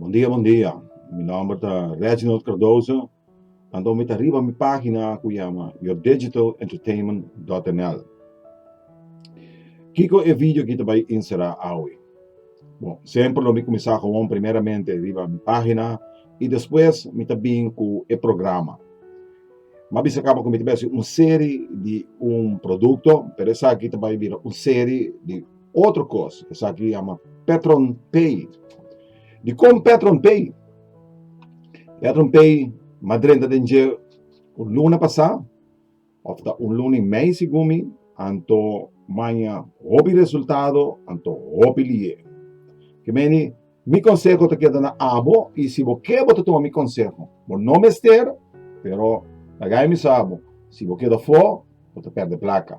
Bon dia bon dia mi nomber ta Reginald Cardoso anto mi ta riba mi pagina cu yama yourdegitalentertainment.nl Kico e video aki ta bay insera awe? Bon semper lo mi cuminsa gewoon primeramente riba mi pagina y despues mi ta bin cu e programa ma bisa caba cu mi ta bay haci un serie di un producto pero esaki ta bay bira un serie di otro kos, esaki yama Petron Pay. Di kon Petron Pay? Petron Pay madrenta den dje un luna pasá, of ta un luna i mei segun mi, anto maña hopi resultado, anto hopi lié. Ke meni, mi konseho ta keda na abo i si bo ke bo ta tuma mi konseho. Bo no mester, pero lagai mi sa bo, si bo keda fo, bo ta pèrdè plaka.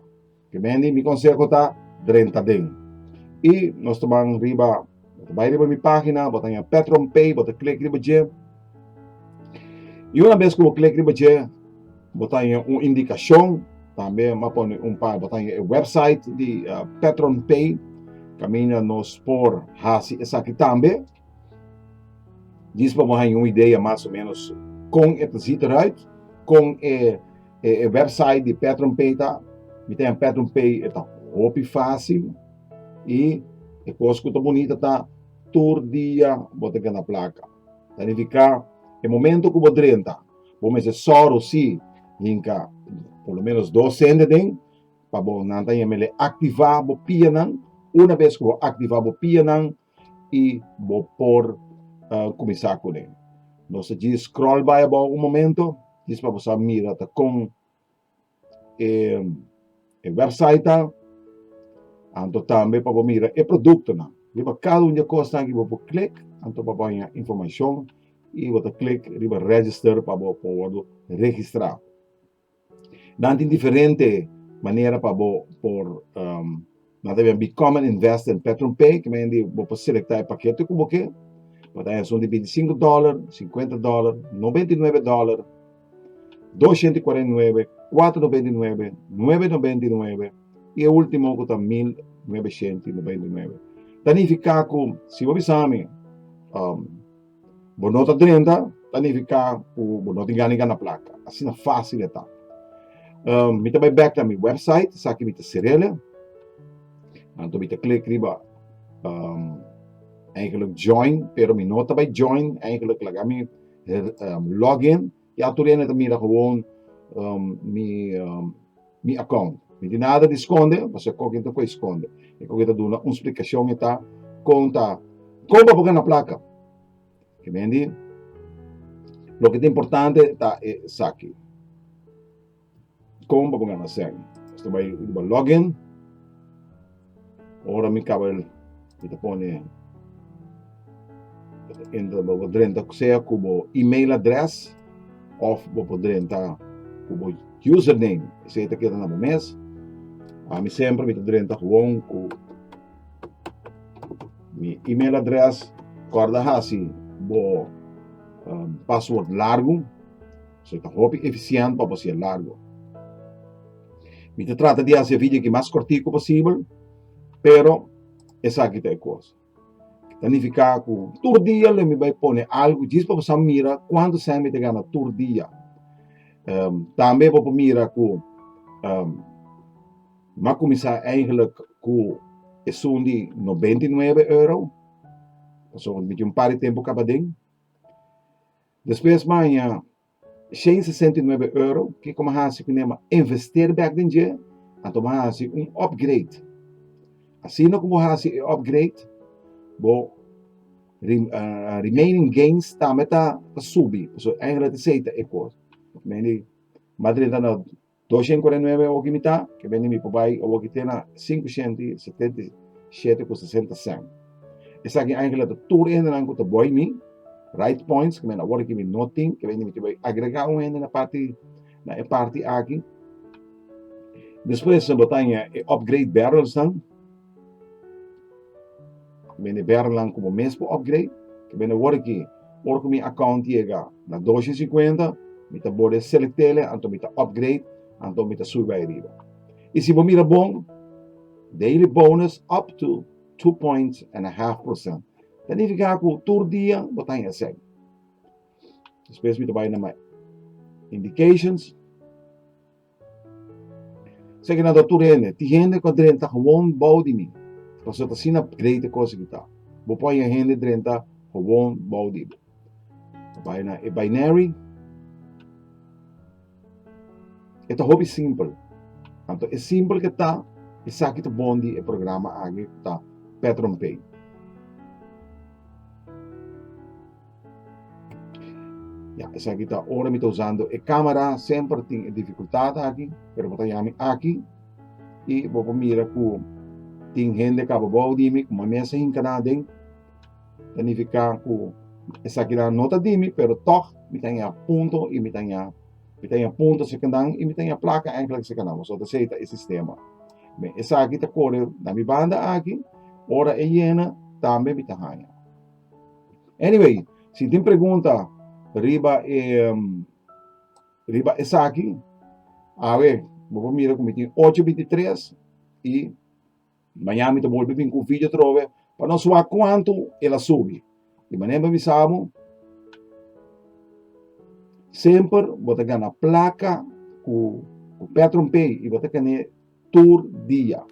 Kemendi mi konseho ta, drenta den. I nos ta ban riba, bo ta bai riba mi página, bo ta haña PatronPay, bo ta klik riba dje. I una bes ku bo klik riba dje, bo ta haña un indikashon, tambe mi a pone un par, bo ta haña e wèpsait di PatronPay kaminda nos por hasi esaki tambe. Djis pa bo haña un idea mas o menos con e ta zit eruit, con e, e, e website di Petron Pay ta. Mi ta haña Petron Pay e ta hopi fácil y e cos cu ta bonita ta tur dia bo ta gana placa. Ta nifica e momento cu bo drenta bo mester soro si hinca por lo menos dos cente den pa bo nan ta haña mele activa bo pianan. Una bes cu bo activa bo pianan i bo por kuminsá kuné. Nos ta dje scroll bai abou un momento, dje pa bo sa mira ta kon e wèpsait ta, anto tambe pa bo mira e produktonan. Riba kada un di e kosnan aki bo por klik, anto bo a baña informashon i bo ta klik riba register pa bo por wòrdu registrá. Nan tin diferente manera pa bo por um, nan ta bian Become an Investor in Petron Pay, ke men di bo por selecta e paketo ku bo ke, bo ta esun di bintisinko dòler, sinkuenta dòler, nobenta i nuebe dòler, doshienta i kuarenta i nuebe, kuater nobenta i nuebe, nuebe nobenta i nuebe, i e ultimo ku ta mil nuebeshienta i nobenta i nuebe. Ta nifiká ku si bo bisa mi, um, Bo no ta drenta, ta nifiká ku bo no tin gana di gana plaka. Asina fásil e ta. Um, mi ta bai bèk na mi wèpsait, esaki mi ta serele. Anto mi ta klik riba um, eigenlijk join, pero mi no ta bai join, eigenlijk laga mi um, login. E autoridadnan ta mira gewoon um, mi, um, mi account. Mi tin nada di skonde, pasobra koken ta por skonde. E koken ta duna un splikashon e ta kon ta kon pa por gana plaka. Ke mendi, lo ke ta importante ta esaki. Kon pa bongana sèn? Esta bai riba login. Ora mi kaba mi ta pone entra bo bo drenta sea ku bo email adrès of bo por drenta ku bo username esei ta keda na bo mes. Ami semper mi ta drenta gewoon ku mi email adrès. Kòrda hasi bo password largu. so e ta hopi efisiènt pa bo sier largu. Mi ta trata di hasi e vidio aki mas kortiku posibel, pero esaki ta e kos. Ta nifiká ku tur dia lo mi bai pone algu djis pa bo sa mira kuantu sèn mi ta gana tur dia. Um, tambe bo por mira ku um, mi a kuminsá eigenlijk ku esun di 99 euro, pasobra mi tin un par di tempu kaba den. Despues baña shei sesenta i nuebe euro, kiko mi a hasi ku Nema? Investeer bek den dje, anto mi a hasi un upgrade. Asina ku bo hasi e upgrade, bo remaining gains tambe ta subi, pasobra eigen di esei ta e kos. Mi di, Madrid ta na Doshent kuarenta i nuebe oki mitá ke bende mi pa bai oboki te na sinku shent i setenta i shete ku sesenta sènt. Esaki aña ke la ta tur hendenan ku ta boi mi, raids points, ku mi na wòrdu ke mi no tin, ke bende mi ke bai agregá un hende na parti na e parti aki. Despues mi botá aña e upgrade barrelsnan. Bende bernan ku bo mes por upgrade, ke bende wor aki, ora ku mi account yega na doshi i sikuenta, mi ta borde selectele, anto mi ta upgrade, anto mi ta subi bai riba. I si bo mira bon, daily bonus up to two points and a half percent, ta nifiká ku tur dia bo ta haña esei. Despues mi ta bai na my indications, Sa ki nan ta tur hende? Tin hende ku a drenta hobon bou di mi, pasobra ta asina grei te kos e ku ta. Bo por haña hende drenta hobon bou di bo. Bai na e binary. E ta hopi simpel. Anto e simpel ke ta, esaki ta bon di e programa aki ku ta Petron Pay. Ya, esaki ta ora mi ta usando e camera, semper tin e dificultad aki, pero bo ta ya mi aki y bo por mira cu tin hende caba bou di mi, como a mesa hinca na aden, ta nifica cu esakinan no ta di mi, pero tog mi ta ya punto y mi ta ya, mi ta ya punto esakanan y mi ta ya placa enkele esakanan, pasobra ta asey ta e sistema. Bien, esaki ta core na mi banda aki, ora e yena tambe mi ta haya. Anyway, si tin pregunta riba e riba esaki, awe bo por mira ku mi tin ocho binti tres i mañana mi ta bolbe bin ku un video atrobe pa nos wak kuantu el a subi. Di manera mi a bisa bo semper bo ta gana plaka ku ku Petron Pay i bo ta kende tur dia.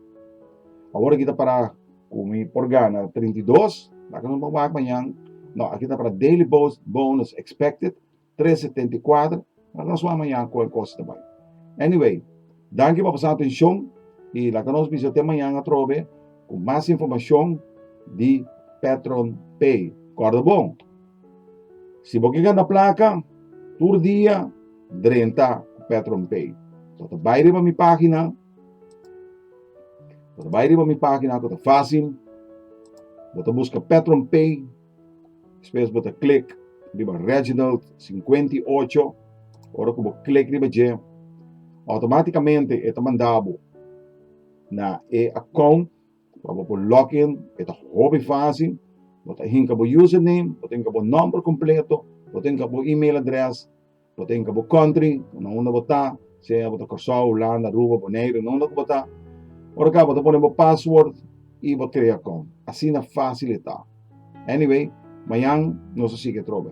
Awor aki ta para ku mi por gana trinta i dos, laga nos por wak mañan, no, aki ta para daily bonus expected tres setenta i kuater, laga nos wak mañan kon e kos ta bai. Anyway, danki pa pasa atenshon i laga nos bisa te mañan atrobe ku mas informashon di Petron Pay. Kòrda bon! Si bo ke gana plaka, tur dia drenta ku PetronPay. So ta bai riba mi pagina, so ta bai riba mi pagina ku ta fasil, bo ta buska PetronPay, despues bo ta klik riba Reginald sinkuenta i ocho, ora ku bo klik riba dje, outomaticamente e ta manda bo na e account. Pa bo por login e ta hopi fásil. Bo ta hinka bo username, bo ta hinka bo nòmber kompleto, bo ta hinka bo email address, bo ta hinka bo country, na unda bo ta, sea bo ta Kòrsou, Hulanda, Aruba, Boneiru, na unda ku bo ta. Ora ka bo ta pone bo pasword i bo krea kònt. Asina fásil e ta. Anyway, mañan nos a sigui atrobe.